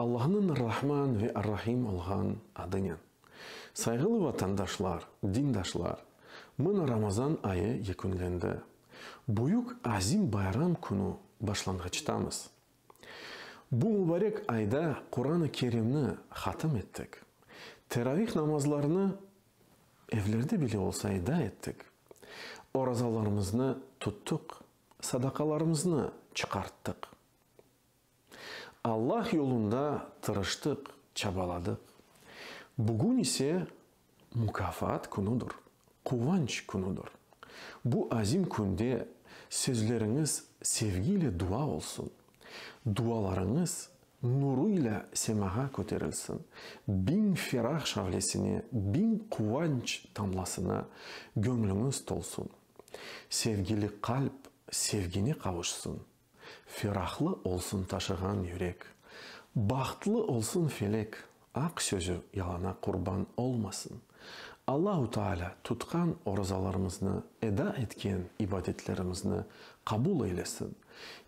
Allahnıñ Ar-Rahman ve Ar-Rahim olğan adınen. Sayğılı vatandaşlar, dindaşlar, mına Ramazan ayı yekünlendi. Büyük azim bayram künü başlanğıçtamız. Bu mübarek ayda Quran-ı Kerimni hatim ettik. Teravih namazlarını Evlerde bile olsa eda ettik, orazalarımıznı tuttuq, sadaqalarımıznı çıqarttıq. Allah yolunda tırıştıq, çabaladıq. Bugün ise mukafaat künüdür, quvanç künüdür. Bu azim künde sözleriñiz sevgi ile dua olsun, dualarıñız Nuruyla semağa köterilsin, biñ ferah şavlesine, biñ quvanç tamlasına göñlüñiz tolsun. Sevgili qalp sevgine qavuşsın, ferahlı olsun taşığan yürek. Bahtlı olsun felek, Aq sözü yalana qurban olmasın. Allahu Taalâ tutqan orazalarımıznı, eda etken ibadetlerimizni qabul eylesin,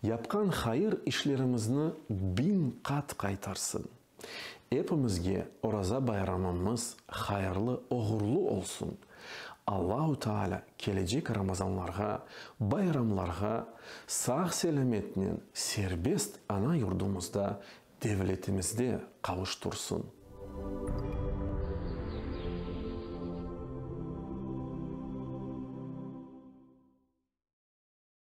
yapqan hayır işlerimizni biñ qat qaytarsın. Epimizge Oraza bayramımız hayırlı, oğurlu olsun. Allahu Taalâ kelecek Ramazanlarğa, bayramlarğa sağ-selâmetnen serbest ana yurdumızda Devletimizde qavuştursın.